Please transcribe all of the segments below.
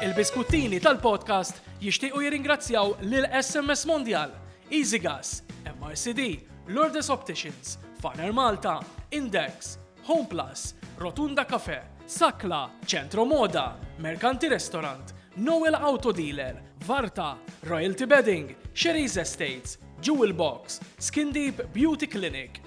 Il-biskuttini tal-podcast jixtiequ jirringrazzjaw lil SMS Mondial, EasyGas, MRCD, Lourdes Opticians, Faner Malta, Index, Home Plus, Rotunda Cafe, Sakla, Centro Moda, Mercanti Restaurant, Noel Auto Dealer, Varta, Royalty Bedding, Sherry's Estates, Jewel Box, Skin Deep Beauty Clinic,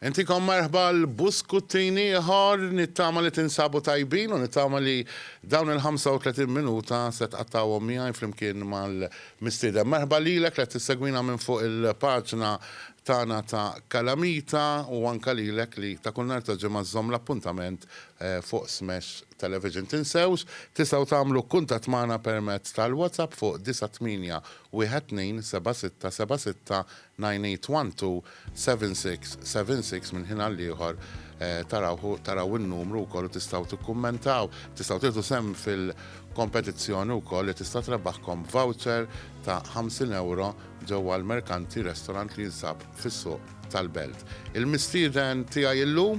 Intikom merħba għal buskuttini ieħor, nittama li tinsabu tajbin u nittama li dawn il-35 minuta se tqattgħuhom miegħi flimkien mal-mistieden. Merħba lilek li qed tissegwina minn fuq il-paġna tagħna ta' Kalamita u anke lilek li ta' kull nhar ta' ġimgħa żżomm l-appuntament fuq Smash Television. Tinsewx, tistgħu tagħmlu kuntatt magħna permezz tal-WhatsApp fuq 9812 76 76 98127676 minn ħin għall-ieħor tarawh taraw in-numru wkoll u tistgħu tikkummentaw. Tistgħu tieħdu sehem fil-kompetizzjoni wkoll li tista' trebaħkom voucher ta' 50 ewro ġewwa l-Merkanti Restaurant li jinsab fis-Suq tal-Belt. Il-mistieden tiegħi llum.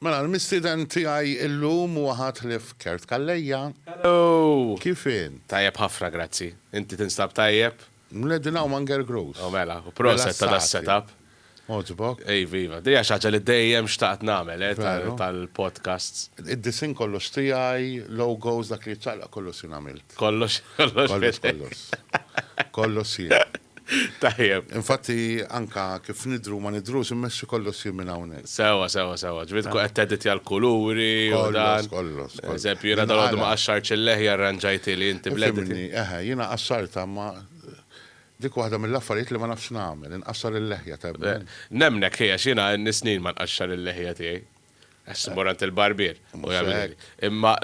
Mela l-mistieden tiegħi illum huwa Ħatlief Kert Calleja. Hello! Kif int? Tajjeb ħafna grazzi. Inti tinstab tajjeb? Mneddi hawn ma' Nger Gross. O mela, u proset ta' da' set up. Għoġbok? Iva iva. Dejja xi ħaġa li dejjem xtaqt nagħmel eh, tal-podcasts. Id-disinn kollox tiegħi, logos, dak li jiċċaqlaq kollox jien għamilt. Kollox, kollox. Kollox, kollox. Kollox jien. Tajjeb. Infatti anka kif nidhru u ma nidhrux immexxi kollox jien minn hawnhekk. Sewwa, sewwa, sewwa. Ġifieri tkun qed teditja l-kuluri u dan. Kollox, kollox. Pereżempju jiena dalgħodu ma qaxxartx il-leħja rranġajtilhi inti bl-edit. Fimni, eħe, jiena qaxxartha imma dik waħda mill-affarijiet li ma nafx nagħmel, inqaxxar il-leħja, temmen? Nemmnek, ħi, għax jiena għandni snin ma nqaxxar il-leħja tiegħi. Għax immur għand il-barbier. Imma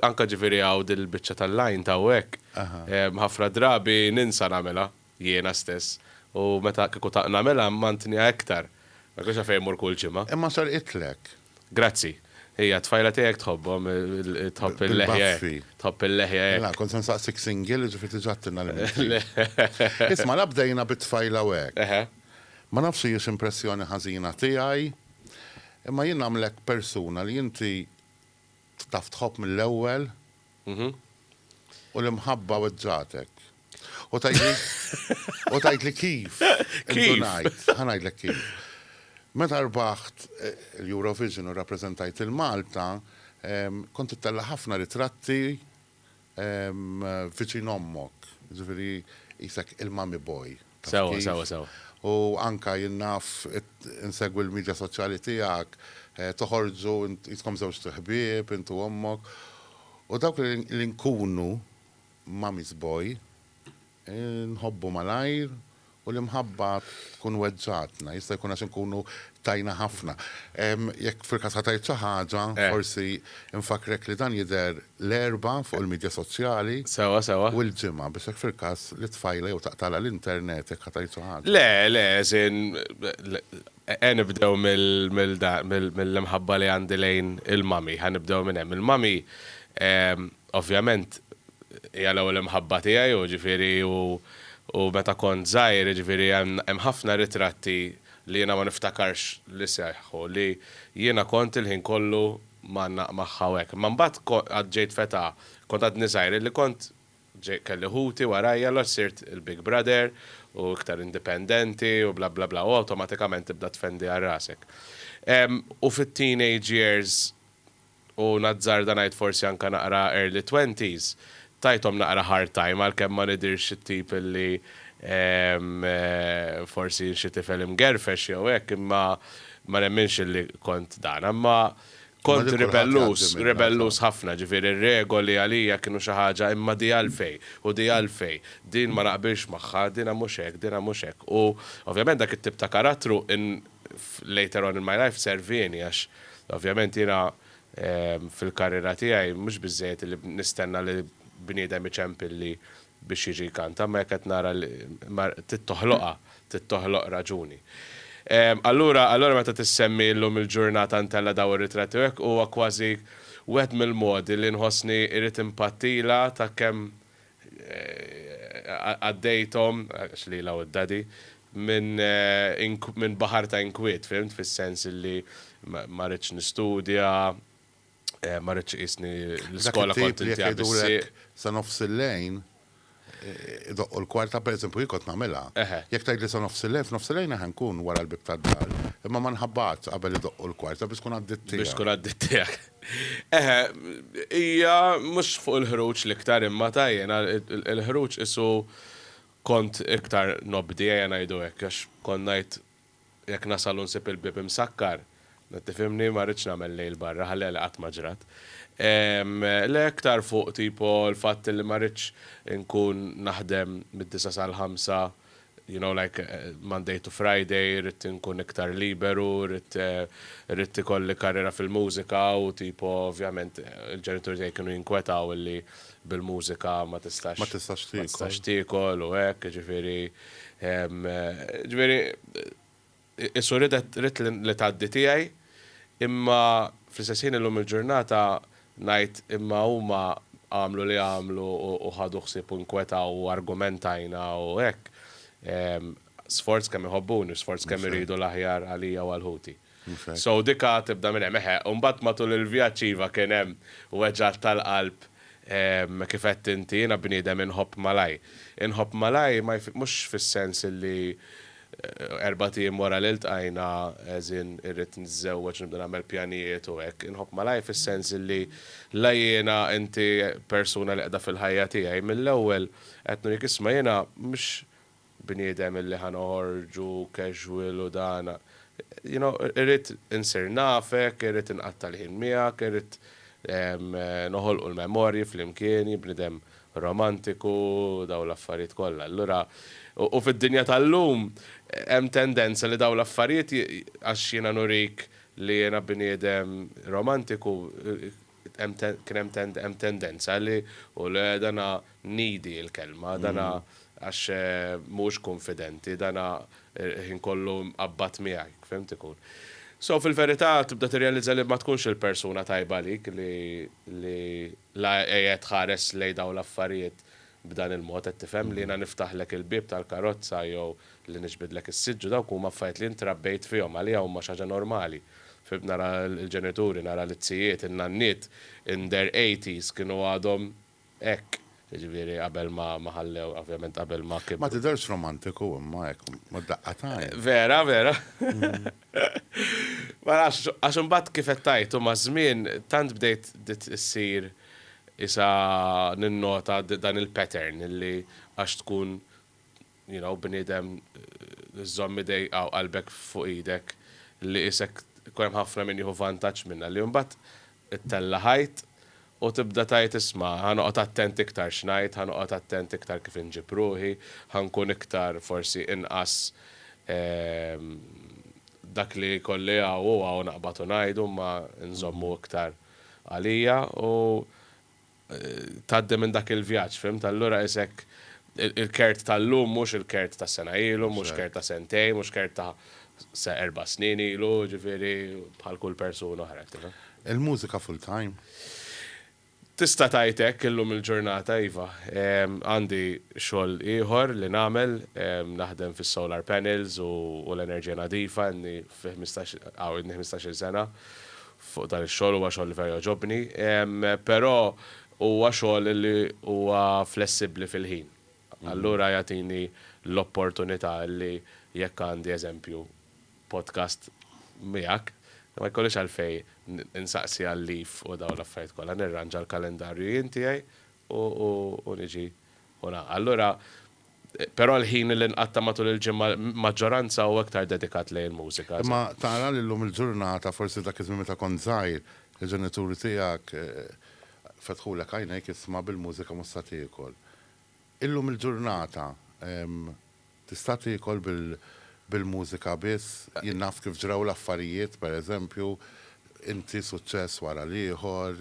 anka ġifieri hawn din il-biċċa tal-lajn ta' hekk. Ħafna drabi ninsa nagħmilha jiena stess u meta kieku ta' nagħmilha mmantniha iktar. Ma jkunx għalfejn immur kull ġimgħa. Imma serqitlek. Grazzi. Hija t-tfajla tiegħek tħobbhom, tħobb il-leħja. Tħobb il-leħja. Mela, kont se nsaqsik single, jiġifieri diġà għattilna l-imil. Isma' la bdejna bit-tfajla u hekk. Ma nafx hijiex impressjoni ħażina tiegħi. Imma jien nagħmlek persuna li inti taf tħobb mill-ewwel u l-imħabba weġġagħtek. U tgħidli kif? Indunajt, ħa ngħidlek kif. Meta rbaħt eh, l-Eurovision u rappreżentajt il-Malta, kont ittella ħafna ritratti viċin ommok, jiġifieri qisek il-mommy boy. Sewwa, sewwa, sewwa. U anke jien naf, insegwi l-midja soċjali tiegħek, toħorġu qiskom żewġt ħbieb int u ommok. U dawk li nkunu mommy's boy, Inħobbu malajr u l-imħabba tkun weġġgħatna. Jista' jkun għax inkunu tajna ħafna. Jekk fil-każ ħa tgħid xi ħaġa, forsi nfakkrek li dan jidher l-Erbgħa fuq il-midja soċjali u l-Ġimgħa biex hekk fil-każ li t-tfajla jew taqtagħlha l-internet jekk ħa tgħid xi ħaġa. Le, le, as in, ejja nibdew mill-imħabba li għandi lejn il-mommy. Ħa nibdew minn hemm. Il-mommy Ovvjament hija l-ewwel imħabba tiegħi u ġifieri u u meta kont żgħir jiġifieri hemm hemm ħafna ritratti li jiena ma niftakarx li seħħu li jiena kont il-ħin kollu mgħannaq magħha u hekk. Imma mbagħad ko għad ġejt f'età kont għadni żgħir illi kont ġej kelli ħuti warajja allura sirt il-big brother u iktar indipendenti u bla bla bla u awtomatikament tibda tfendi għal rasek. Ehm u fit-teenage years u nazzarda ngħid forsi anke naqra early twenties, tajthom naqra hard time għalkemm ma nidhirx it-tip li forsi jien xi tifel imgerfex jew hekk imma ma nemminx li kont dan. Imma kont ribellus, ribellus ħafna, ġifieri r-regoli għalija kienu xi ħaġa imma di għalfejn u di għalfejn, din ma naqbilx magħha, dinha mhux hekk, dinha mhux hekk u ovvjament dak it-tip ta' karattru Later on in my life servieni għax ovvjament jiena fil-karriera tiegħi mhux biżżejjed illi nistenna li bniedem iċempilli biex jiġi jkanta, imma jekk qed nara li trid toħloqha, trid toħloq raġuni. Allura allura meta tissemmi llum il-ġurnata ntella' dawn ir-ritratti u hekk huwa kważi wieħed mill-modi li nħossni irrid inpattilha ta' kemm għaddejthom, għax lilha u d-Daddy, minn baħar ta' inkwiet, fhimt, fis-sens li ma ridtx nistudja, ma ridtx iqisni l-iskola kont intiha bis-sieq. Dak it-tip li jekk jgħidulek sa nofs il-lejl idoqqu l-kwarta, pereżempju jien kont nagħmilha. Jekk tgħidli sa nofs il-lejl, f'nofs il-lejl eħe nkun wara l-bieb tad-dar, imma ma nħabbatx qabel idoqqu l-kwarta biex tkun għaddiet tiegħek. Biex tkun għaddiet tiegħek. Eħe, hija mhux fuq il-ħruġ l-iktar imma ta' jiena l-ħruġ qisu kont iktar nobdi ejja ngħidu hekk għax kont ngħid jekk nasal u nsib il-bieb imsakkar, tifhimni, ma rridx nagħmel lejl barra, ħalliha li qatt ma ġrat. Le iktar fuq tipo l-fatt li ma rridx inkun naħdem mid-disgħa sal-ħamsa, you know like Monday to Friday rrid inkun iktar liberu, rrid rrid ikolli karriera fil-mużika u tipo ovvjament il-ġenituri tiegħi kienu jinkwetaw illi bil-mużika ma tistax ma tistax tiekol. Ma tistax tiekol u hekk, ġifieri ġifieri Qisu ridet ridt li tgħaddi tiegħi, imma fl-istess ħin illum il-ġurnata ngħid imma huma għamlu li għamlu u ħadu ħsieb u nkwetaw u argumentajna u hekk, sforz kemm iħobbuni u sforz kemm iridu l-aħjar għalija u għal ħuti. So dika tibda minn hemm. Eħe, u mbagħad matul il-vjaġġ iva kien hemm weġgħat tal-qalb kif għedt inti jiena bniedem inħobb malajr. Inħobb malajr mhux fis-sens illi Erbat ijiem wara li ltqajna as in irrid niżżewweġ nibda nagħmel pjanijiet u hekk. Inħobb malajr fis-sens li la jiena inti persuna li qiegħda fil-ħajja tiegħi mill-ewwel qed nurik isma' jiena mhux bniedem illi ħa noħorġu casual u dan you know irrid insir nafek, irrid inqatta' l-ħin miegħek, irrid noħolqu l-memorji flimkien, jien bniedem romantiku, dawn l-affarijiet kollha. Allura, u fid-dinja tal-lum hemm tendenza li dawn l-affarijiet, għax jiena nurik li jiena bniedem romantiku, hemm kien hemm hemm tendenza li u le dana needy il-kelma, dana għax mhuwiex kunfidenti, dana l-ħin kollu mqabbad miegħi, fhimt ikun. So fil-verità tibda tirrealizza li ma tkunx il-persuna tajba għalik li La qiegħed tħares lejn dawn l-affarijiet b'dan il-mod, qed tifhem, li jiena niftaħlek il-bieb tal-karozza jew li niġbidlek is-siġġu, dawk huma affarijiet li int trabbejt fihom, għalija huma xi ħaġa normali. Fil-bieb nara l-ġenituri, nara l-zijiet, in-nanniet in their eighties kienu għadhom hekk, jiġifieri qabel ma ħallew, ovvjament qabel ma kibru. Ma tidherx romantiku imma hekk, mad-daqqa t'għajn. Vera, vera. Ma nafx, għax imbagħad kif qed tgħid u maż-żmien tant bdejt bdiet issir isa ninnota dan il-pattern li għax tkun you know bniedem żżomm idejk u qalbek fuq idek li isek ikun hemm ħafna min jieħu vantaġġ minnha li imbagħad Ittella' ħajt u tibda tgħid isma' ħa noqgħod attent iktar x'ngħid, ħa noqgħod attent iktar kif inġib ruħi, ħa nkun iktar forsi inqas dak li jkolli hawn u hawn aqbad u ngħidu imma nżommu iktar għalija u tgħaddi minn dak il-vjaġġ, fimt? Allura qisek il-kert tal-lum mhux il-kert ta' sena ilu, mhux kert ta' sentejn, mhux kert ta' erba' snin ilu, jiġifieri bħal kull persuna oħra, tifhem? Il-mużika full time? Tista' tgħid hekk illum il-ġurnata, iva. Għandi xogħol ieħor li nagħmel, naħdem fis-solar panels u l-enerġija nadifa, ilni fi ħmistax, hawn ilni ħmistax-il sena, fuq dan ix-xogħol, huwa xogħol li vera jogħġobni, però huwa xogħol li huwa flessibbli fil-ħin. Allura jagħtini l-opportunità li jekk għandi eżempju podcast miegħek, ma jkollix għalfejn insaqsi għal leave u dawn l-affarijiet kollha, nirranġa l-kalendarju jien tiegħi u niġi u ngħaqad. Allura Però l-ħin li nqatta' matul il-ġimgħa l-maġġoranza hu iktar dedikat lejn il-mużika. Imma tara li llum il-ġurnata, forsi dak iż-żmien meta kont żgħir, il-ġenituri tiegħek fetħulek għajnejk isma' bil-mużika mhux sa tiekol. Illum il-ġurnata tista' tiekol bil-mużika biss? Jien naf kif ġraw l-affarijiet, pereżempju, Inti suċċess wara l-ieħor,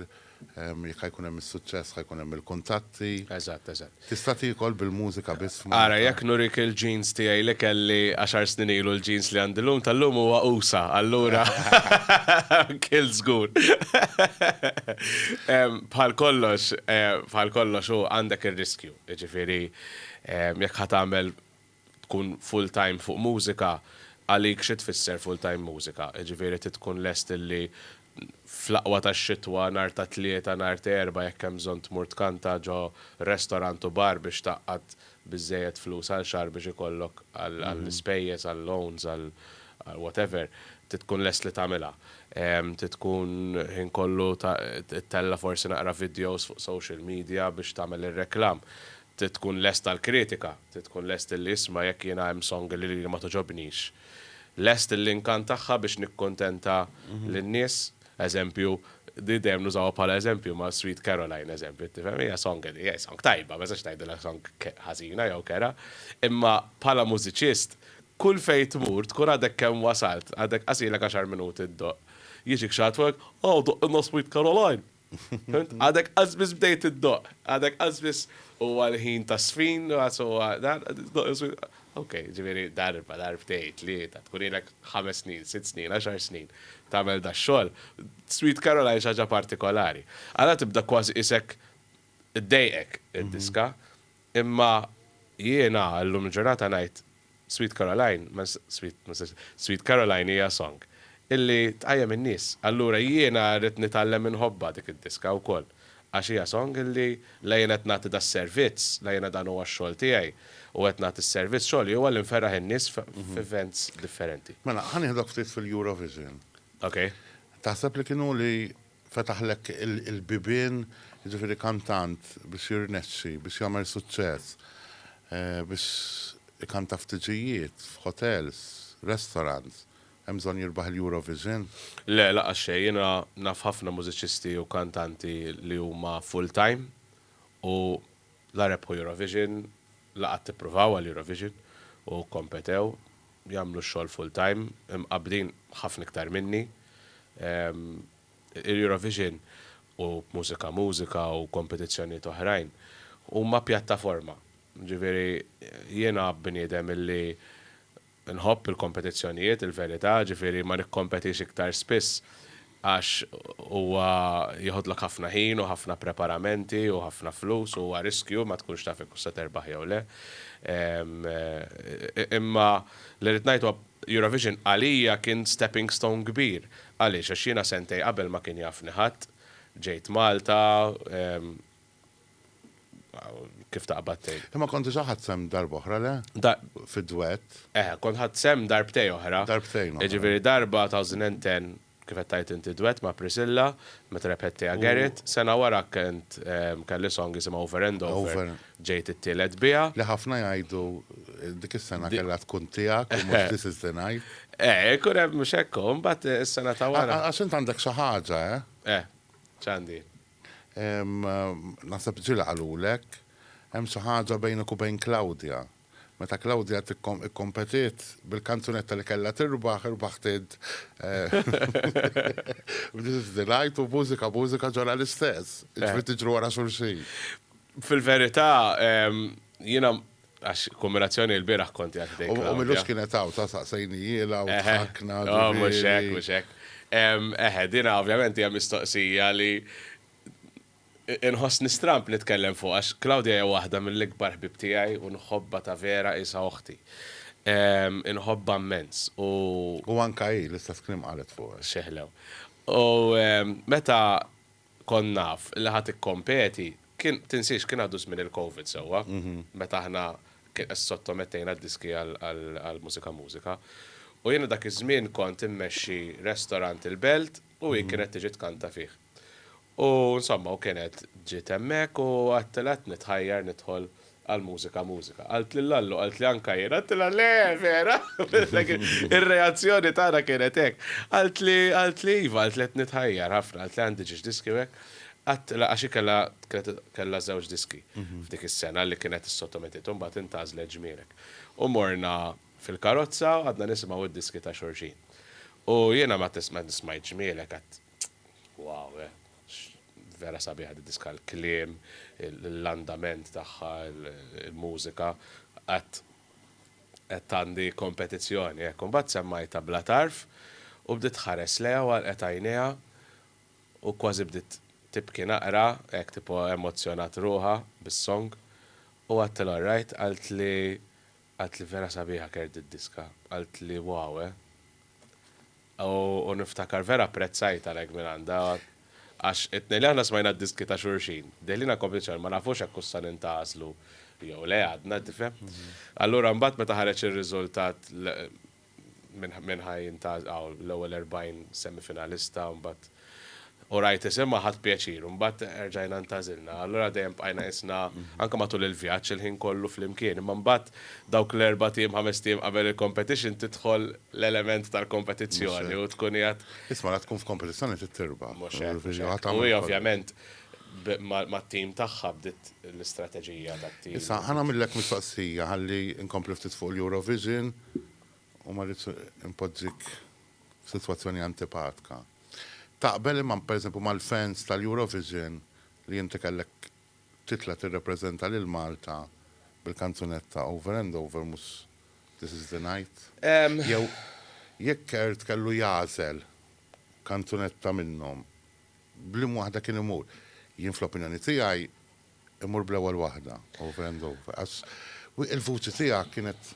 jekk ħa jkun hemm is-suċċess ħa jkun hemm il-kuntatti. Eżatt, eżatt. Tista' tiekol bil-mużika biss f'Malta? Ara, jekk nurik il-jeans tiegħi li kelli għaxar snin ilu l-jeans li għandi llum tal-lum huwa usa', allura kilt żgur. Bħal kollox, bħal kollox hu għandek ir-riskju, jiġifieri jekk ħa tagħmel tkun full time fuq mużika, għalik xi tfisser full time mużika? Jiġifieri trid tkun lest illi fl-aqwa tax-xitwa nhar ta' Tlieta, nhar ta' Erbgħa jekk hemm bżonn tmur tkanta ġo restorant u bar biex tgħaqqad biżżejjed flus għal xahar biex ikollok għall-ispejjeż, għal-loans, għal whatever, trid tkun lest li tagħmilha. Trid tkun ħin kollu ittella' forsi naqra videos fuq social media biex tagħmel ir-reklam. Trid tkun lest għall-kritika, trid tkun lest illi isma' jekk jiena hemm song li lili ma togħġobnix. Lest illinkantagħha biex nikkuntenta lin-nies. Eżempju, di dejjem nużawha bħala eżempju ma' Sweet Caroline, eżempju, tifhem? Hija song li, hi song tajba, ma nistax ngħidilha song ħażina jew kerha. Imma bħala mużiċist, kull fejn tmur tkun għadek kemm wasalt, għadek qasilek għaxar minuti ddoqq. Jiġik xi ħadd fuqek, Aw doqqilna Sweet Caroline! Fimt? Għadek qasbis bdejt iddoq. Għadek qasbis huwa l-ħin ta' sfin, għas huwa dan, iddoq is-sfin. Ok, ġifieri darba, darbtejn, tlieta, tkun ilek ħames snin, sitt snin, għaxar snin tagħmel dax-xogħol. Sweet Caroline xi ħaġa partikolari. Ara tibda kważi qisek iddejqek id-diska. Imma jiena llum il-ġurnata ngħid Sweet Caroline, Sweet, ma nistax, Sweet Caroline hija song illi tqajjem in-nies. Allura jiena rrid nitgħallem inħobbha dik id-diska wkoll għax hija song illi la jien qed nagħti das-servizz, la jiena dan huwa x-xogħol tiegħi u qed nagħti s-servizz, xogħli huwa li nferraħ in-nies f'events differenti. Mela, ħa nieħdok ftit fil-Eurovision. Okej. Taħseb li kien hu li fetaħlek il-bibien, jiġifieri kantant biex jirnexxi, biex jagħmel suċċess, biex ikanta f'tiġijiet, f'hotels, restaurants, hemm bżonn jirbaħ il-Eurovision? Le, lanqas xejn. Jiena naf ħafna mużiċisti u kantanti li huma full-time u la rebħu Eurovision, la qatt ippruvaw għall-Eurovision u kkompetew. jagħmlu x-xogħol full time, imqabbdin ħafna iktar minni. Il-Eurovision u Mużika Mużika u kompetizzjonijiet oħrajn huma pjattaforma. Ġifieri jiena bniedem illi nħobb il-kompetizzjonijiet, il-verità, ġifieri ma nikkompetix iktar spiss għax huwa jiħodlok ħafna ħin u ħafna preparamenti u ħafna flus u huwa riskju ma tkunx taf jekk hux se terbaħ jew le. Imma li rrid ngħid huwa Eurovision għalija kien stepping stone kbir. Għaliex? Għax jiena sentejn qabel ma kien jafni ħadd, ġejt Malta, kif taqbad tgħid. Imma kont diġà ħadd sehem darba oħra le? Fid-dwett. Eh, kont ħadd sehem darbtejn oħra. Darbtejn oħra. Jiġifieri darba 2010 kif qed tgħid inti dwett ma' Priscilla meta rebħet Tea Garrett, sena wara kent kelli song jisimha Over and Over, ġejt it-tielet biha. Li ħafna jgħidu dik is-sena kellha tkun tiegħek u mhux This is the night. Eh, ikun hemm mhux hekk hu, imbagħad is-sena ta' wara. Għax int għandek xi ħaġa, eh? Eh, x'għandi? Naħseb ġieli qalulek. Hemm xi ħaġa bejnek u bejn Claudia. Meta Claudia kkompetiet bil-kanzunetta li kellha tirbaħ, irbaħt int. Bdiet iżżid l-għajt u mużika mużika ġara l-istess. Jiġifieri tiġru wara xulxin. Fil-verità, jiena Għax kombinazzjoni l-bieraħ kont qiegħed ħdejn Claudia. U Milux kienet hawn, sa saqsejnijielha u ħakna. Oh, mhux hekk, mhux hekk. Eħe, dina ovvjament hija mistoqsija li inħossni stramb nitkellem fuqha għax Claudia hija waħda mill-ikbar ħbieb tiegħi u nħobbha ta' vera qisha oħti. Inħobbha mmens u. U anke hi l-istess kliem qalet fuqek. X'eħlew. U meta kont naf li ħa tikkompeti, kien, tinsiex, kien għadu żmien il-Covid sewwa, meta aħna sottomettejna d-diski għal Mużika Mużika. U jiena dak iż-żmien kont immexxi restorant il-Belt u hi kienet tiġi tkanta fih. U insomma, u kienet ġiet hemmhekk u għedtilha qed nitħajjar nidħol Għall-mużika mużika. Qaltli Lallu, qaltli Ann Kajr, għattilha le, vera! Ir-reazzjoni tagħna kienet hekk. Qaltli, qaltli iva, qaltli qed nitħajjar ħafna, qaltli għandi ġiex diski u hekk. Għattilha, għax hi kellha, kellha żewġ diski f'dik is-sena li kienet issottometiet u mbagħad intgħażlet Ġmirek. U morna fil-karozza u qgħadna nisimgħu d-diski ta' xulxin. U jiena ma smajtx Ġmielek, għedt Wow, eh. Vera sabiħa di diska l-kliem, l-andament tagħha, il-mużika, għat qed għandi kompetizzjoni hekk. Imbagħad semmajtha bla tarf u bdiet tħares lejha u għalqet għajnejha u kważi bdiet tibki naqra hekk tipo emozzjonat ruħha bis-song u għadtilha alright qaltli qaltli vera sabiħa Kerr di diska, qaltli wow, eh. U niftakar vera apprezzajt għalhekk mingħandha għax it-tnejn li aħna smajna d-diski ta' xulxin, deħlina kompetizzjoni ma nafux hekk hux sa nintgħażlu jew le għadna, tifhem? Allura mbagħad meta ħareġ ir-riżultat minn minn ħa jintgħażel hawn l-ewwel 40 semifinalista u mbagħad U rajt isimha ħadt pjaċir. U mbagħad erġajna ntagħżilna. Allura dejjem bqajna qisna, anke matul il-vjaġġ, il-ħin kollu flimkien. Imma mbagħad dawk l-erbat ijiem, ħamest ijiem qabel il-competition tidħol l-element tal-kompetizzjoni u tkun qiegħed. Isma' la tkun f'kompetizzjoni trid tirbaħ. Mhux hekk, mhux hekk. U hi ovvjament mat-tim tagħha bdiet l-istrateġija tat-tim. Issa, ħa nagħmillek mistoqsija ħalli nkompli ftit fuq l-Eurovision. u ma rridx inpoġġik f'sitwazzjoni antipatka, taqbel imma pereżempju mal-fans tal-Eurovision li inti kellek titla' tirrepreżenta lil Malta bil-kanzunetta Over and Over mhux This is the Night? Jew jekk Kurt kellu jagħżel kanzunetta minnhom, b'liema waħda kien imur? Jien fl-opinjoni tiegħi Immur bl-ewwel waħda, over and over. Għax il-vuċi tiegħek kienet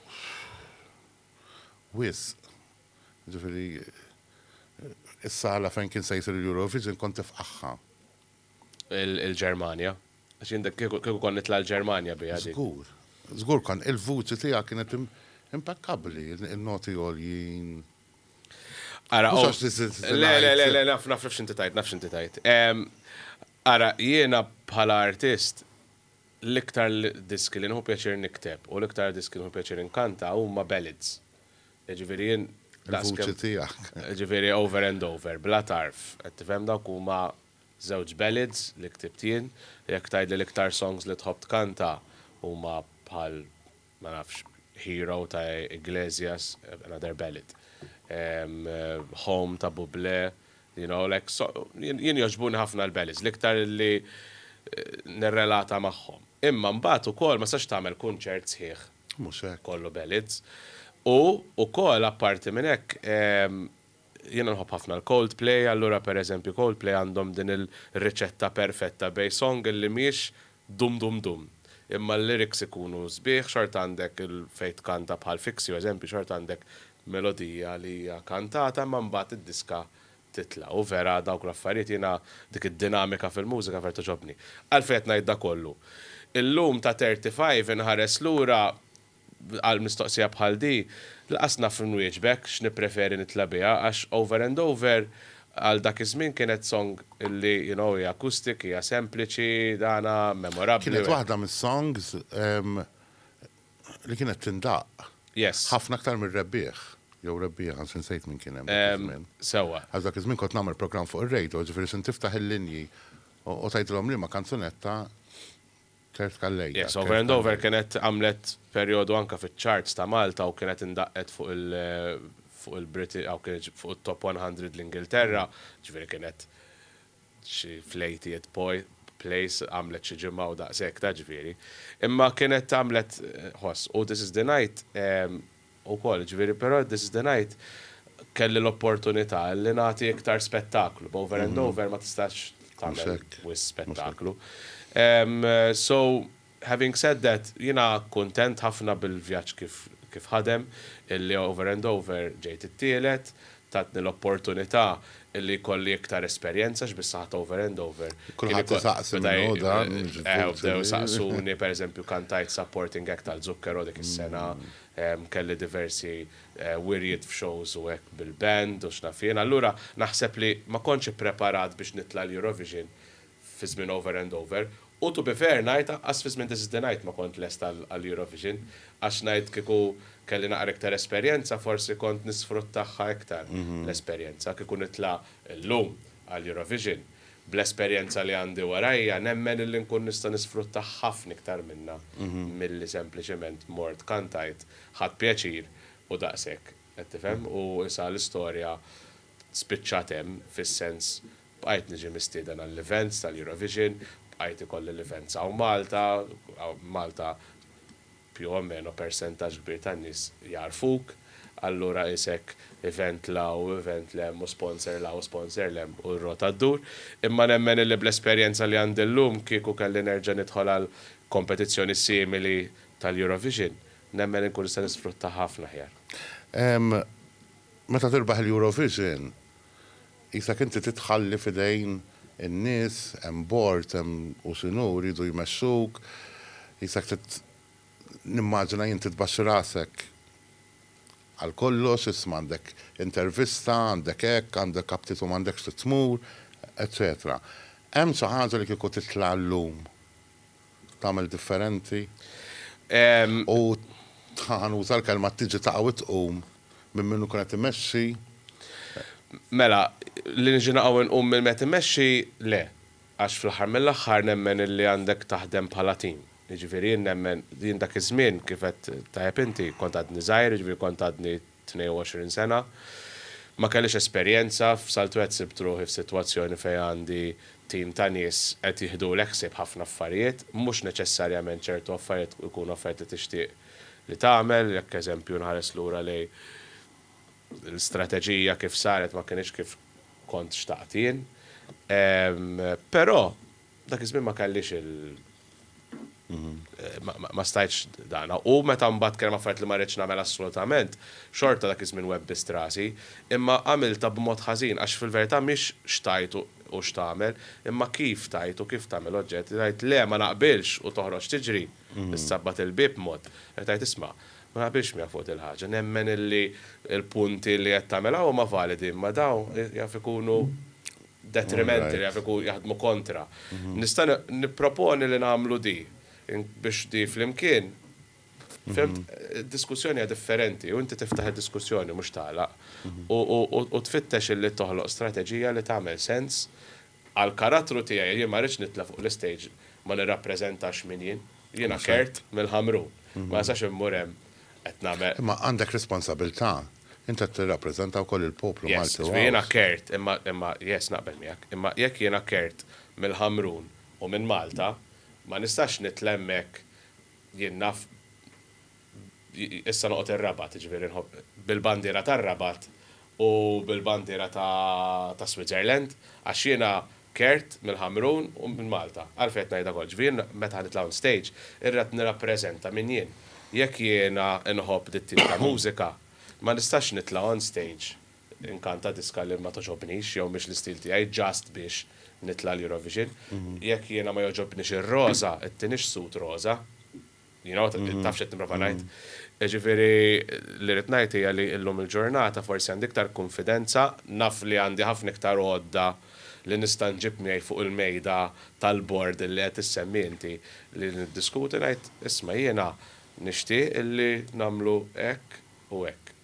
wisq. Ġifieri is-sala fejn kien se jsir il-Eurovision kont tifqaħħa. Il-Ġermanja. Għax jien kieku kont nitla' l-Ġermanja biha dik. Żgur. Żgur kont il-vuċi tiegħek kienet impekkabbli, in-noti għoljin. Ara, le, le, le, naf, naf x'inti tajt, naf x'inti tajt. Ara, jiena bħala artist, l-iktar diski li nieħu pjaċir nikteb u l-iktar diski nieħu pjaċir inkanta huma ballads. Jiġifieri jien daqs kemm. Il-vuċi tiegħek. Jiġifieri over and over, bla tarf, qed tifhem dawk huma żewġ ballads li ktibt jien. Jekk tgħidli l-iktar songs li tħobb tkanta huma bħal ma nafx, Hero ta' Iglesias, another ballad. Home ta' Bublé, you know, like so, jien jogħġbuni ħafna l-ballads, l-iktar li nirrelata magħhom. Imma mbagħad ukoll ma tistax tagħmel kunċert sħiħ kollu ballads. U wkoll apparti minn hekk, Jiena nħobb ħafna l-Coldplay, allura per eżempju Coldplay għandhom din il-riċetta perfetta bejn song illi mhijiex dum dum dum, imma l-lyrics ikunu sbieħ, xorta għandek il fejn tkanta bħal Fix You eżempju xorta għandek melodija li hija kantata imma mbagħad id-diska titla'. U vera dawk l-affarijiet jiena dik id-dinamika fil-mużika vera togħġobni. Għalfejn qed ngħid da kollu? Illum ta' 35 inħares lura għal mistoqsija bħal di, laqas naf nwieġbek x'nippreferi nitla' biha għax Over and Over għal dak iż-żmien kienet song li you know hija acoustic, hija sempliċi, dana, memorabbli. Kienet waħda mis-songs li kienet tindaqq. Yes. Ħafna aktar mir-Rebbieħ, jew Rebbieħa, anzi nsejt min kien hemm dak iż-żmien. Sewwa. Għax dak iż-żmien kont nagħmel programm fuq ir-radio, ġifieri sint tiftaħ il-linji u tgħidilhom liema kanzunetta, Tert Calleja. Yes, Over and Over kienet għamlet perjodu anke fiċ-charts ta' Malta u kienet indaqqet fuq il fuq il-Briti aw kienet fuq it-top 100 l-Ingilterra, ġifieri kienet xi fl-80th poi place għamlet xi ġimgħa u daqshekk ta' ġifieri. Imma kienet għamlet ħoss u This Is The Night ukoll, jiġifieri, però this is the night kelli l-opportunità li nagħti iktar spettaklu, b'over and over ma tistax tagħmel wisq spettaklu. So, having said that, jiena kuntent ħafna bil-vjaġġ kif kif ħadem, illi over and over ġejt it-tielet, Tatni l-opportunità li jkolli iktar esperjenza għax bis-saħħa ta' Over and Over. Kulħadd isaqsi min hu dan. Eh, u bdew isaqsuni, pereżempju kantajt supporting act għal Zucchero dik is-sena, kelli diversi wirjiet f'shows u hekk bil-band u x'naf jien. Allura naħseb li ma kontx ippreparat biex nitla' l-Eurovision. fi żmien Over and Over, u to be fair ngħid anqas fi żmien This is the Night ma kont lest għall-Eurovision, għax ngħid kieku kelli naqra iktar esperjenza forsi kont nisfruttagħha iktar l-esperjenza, kieku nitla' llum għall-Eurovision bl-esperjenza li għandi warajja nemmen illi nkun nista' nisfrutta ħafna iktar minnha milli sempliċement mort kantajt ħadt pjaċir u daqshekk qed tifhem u issa l-istorja spiċċat hemm fis-sens Bqajt niġi mistieden għall-events tal-Eurovision, bqajt ikolli l-events hawn Malta, Malta più o meno persentaġġ kbir tan-nies jagħrfuk, allura qisek event 'l hawn u event 'l hemm u sponsor 'l hawn u sponsor 'l hemm u r-rota ddur. Imma nemmen illi bl-esperjenza li għandi llum kieku kelli nerġa' nidħol għal kompetizzjoni simili tal-Eurovision, nemmen inkun nista' nisfruttaha ħafna aħjar. Meta tirbaħ l-Eurovision, Qisek inti titħalli f'idejn in-nies, hemm bord, hemm u x'inhu, jridu jmexxuk, qisek trid, nimmaġina jien, titbaxxi rasek għal kollox, isma' għandek intervista, għandek hekk, għandek aptit u m'għandekx trid tmur, eċċetera. Hemm xi ħaġa li kieku titla' llum tagħmel differenti u ħa nuża l-kelma tiġi taqa' u tqum minn min ikun qed imexxi. Mela, li niġi naqa' u nqum minn min qed imexxi, le. Għax fl-aħħar mill-aħħar nemmen illi għandek taħdem bħala tim. Jiġifieri jien nemmen, jien dak iż-żmien kif qed tajjeb inti, kont għadni żgħir, jiġifieri kont għadni 22 sena. Ma kellix esperjenza f'Saltu qed sibt ruħi f'sitwazzjoni fejn għandi tim ta' nies qed jiħdulek ħsieb ħafna affarijiet, mhux neċessarjament ċertu affarijiet ikunu affarijiet li tixtieq li tagħmel, jekk eżempju nħares lura lejn l-istrateġija kif saret ma kinitx kif kont xtaqt jien. Però. Dak iż-żmien ma kellix il ma stajtx dan. U meta mbagħad kien hemm affarijiet li ma ridtx nagħmel assolutament, xorta dak iż-żmien webbizt rasi, imma għamiltha b'mod ħażin għax fil-verità mhix x'tgħid u x'tagħmel, imma kif tgħid u kif tagħmel oġġett, tgħid le ma naqbilx u toħroġ tiġri, issabbat il-bieb mod, qed tgħid isma', ma naqbilx miegħek fuq dil-ħaġa, nemmen illi l-punti li qed tagħmel hawn huma validi imma dawn jaf ikunu detriment li jaf ikun jaħdmu kontra. Nista' nipproponi li nagħmlu di biex di flimkien Fimt? Id-diskussjoni hija differenti u inti tiftaħ id-diskussjoni mhux tagħlaq u tfittex illi toħloq strateġija li tagħmel sens għall-karattru tiegħi. Jien ma rridx nitla' fuq l-istage ma nirrappreżentax min jien. Jiena Kurt mill-Ħamrun. Ma nistax immur hemm qed nagħmel. Imma għandek responsabilità Int qed tirrappreżenta wkoll il-poplu Malti u Għawdxi. Yes, ġifieri jiena kert, imma, imma, yes, naqbel miegħek, imma jekk jiena kert mill-Ħamrun u minn Malta, ma nistax nitla' hemmhekk jien naf issa noqgħod ir-Rabat, jiġifieri nħobb bil-bandiera tar-Rabat u bil-bandiera ta' Switzerland, għax jiena Kert, mill-Ħamrun u minn Malta. Għalfejn qed ngħidha kollha? Ġifieri jien meta ħanitla' on stage, irrid nirrappreżenta min jien. Jekk jiena nħobb dit-tip ta' mużika, ma nistax nitla' on stage inkanta diska li ma togħġobnix jew mhix l-istil tiegħi just biex nitla' l-Eurovision. Jekk jiena ma jogħġobnix ir-roża, it-tieni xsut roża? You know, taf xed niprofa ngħid. Ġifieri li rid ngħid hija li llum il-ġurnata forsi għandi iktar kunfidenza, naf li għandi ħafna iktar għodda li nista' nġib miegħi fuq il-mejda tal-bord li qed issemmi inti li niddiskuti ngħid isma' jiena nixtieq illi nagħmlu hekk u hekk.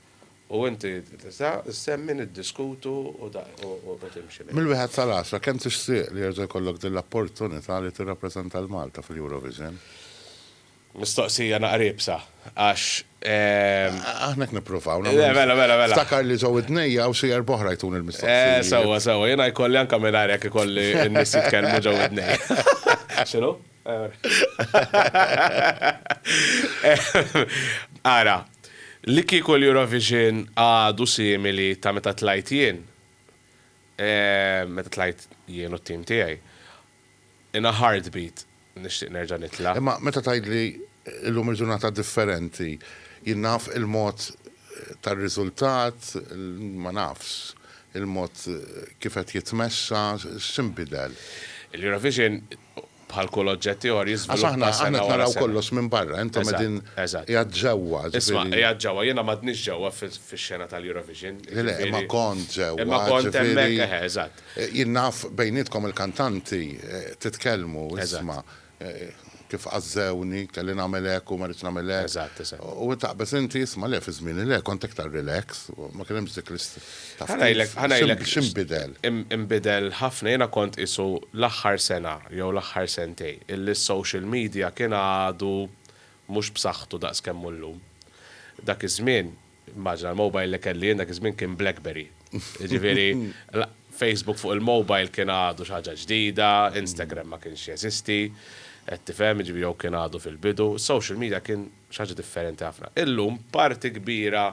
U inti tista' ssemmi, niddiskutu u timxi l-hinn. Mill-wieħed sal-għaxra, kemm tixtieq li jerġa' jkollok din l-opportunità li tirrappreżenta lil Malta fil-Eurovision? Mistoqsija naqra iebsa għax. Aħna hekk nippruvaw nagħmlu. Le, mela, mela, mela. Ftakar li ġo widnejja hawn xi erba' oħra jtuni l-mistoqsijiet. Eh, sewwa, sewwa. Jiena jkolli anke mingħajr hekk ikolli n-nies jitkellmu ġo widnejja. X'inhu? Ara, li kieku l-Eurovision għadu simili ta' meta tlajt jien, meta tlajt jien u t-tim tiegħi, in a heartbeat nixtieq nerġa' nitla'. Imma meta tgħidli llum il-ġurnata differenti, jien naf il-mod tar-riżultat, ma nafx, il-mod kif qed jitmexxa, x'inbidel? Il-Eurovision bħal kull oġġett ieħor jiżviluppa sena wara sena. Għax aħna qed naraw kollox minn barra, intom qegħdin qiegħed ġewwa. Isma', qiegħed ġewwa, jiena m'għadnix ġewwa fix-xena tal-Eurovision. Le, le, imma kont ġewwa. Imma kont hemmhekk, eħe, eżatt. Jien naf bejnietkom il-kantanti titkellmu, isma', kif għażżewni, kelli nagħmel hekk u ma rridx nagħmel hekk. Eżatt, eżatt. U taqbeż inti, isma', le, fi żmieni le, kont iktar relax, ma kien hemmx dik l-. Ħanajlek, ħanajlek. X'inbidel? Inbidel ħafna, jiena kont qisu l-aħħar sena jew l-aħħar sentejn illi s-social media kien għadu mhux b'saħħtu daqs kemm hu llum. Dak iż-żmien, immaġina l-mobile li kelli jien dak iż-żmien kien Blackberry. Jiġifieri Facebook fuq il-mobile kien għadu xi ħaġa ġdida, Instagram ma kienx jeżisti, qed tifhem, jiġifieri jew kien għadu fil-bidu. Is-social media kien Xi ħaġa differenti ħafna. Illum parti kbira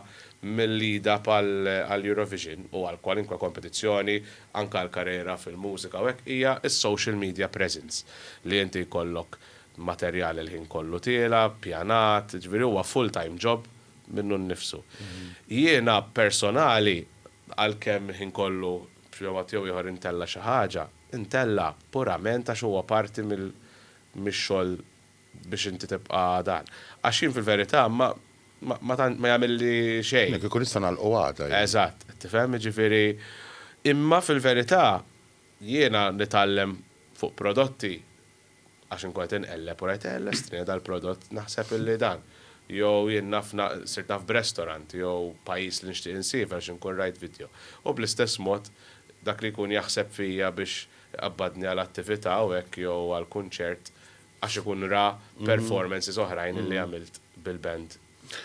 mill-lead-up għall-Eurovision u għal kwalinkwe kompetizzjoni, anke għal karriera fil-mużika u hekk, hija s-social media presence. Li inti jkollok materjal il-ħin kollu tiela', ppjanat, jiġifieri huwa full time job minnu nnifsu. Jiena personali, għalkemm il-ħin kollu b'xi mod jew ieħor intella' xi ħaġa, intella' purament għax huwa parti mix-xogħol biex inti tibqa' dan. Għax jien fil-verità ma ma tant ma jagħmilli xejn. Le kieku nista' nagħlqu għada jien. Eżatt, qed tifhem? Jiġifieri imma fil-verità jiena nitgħallem fuq prodotti għax inkun qed inqelleb u ngħid, eh lestrini dal-prodott naħseb illi dan. Jew jien naf na sirt naf b'restaurant jew pajjiż li nixtieq insiefer għax inkun rajt vidjo. U bl-istess mod dak li jkun jaħseb fija biex iqabbadni għal attività u hekk jew għal kunċert Għax ikun ra performances oħrajn li għamilt bil-band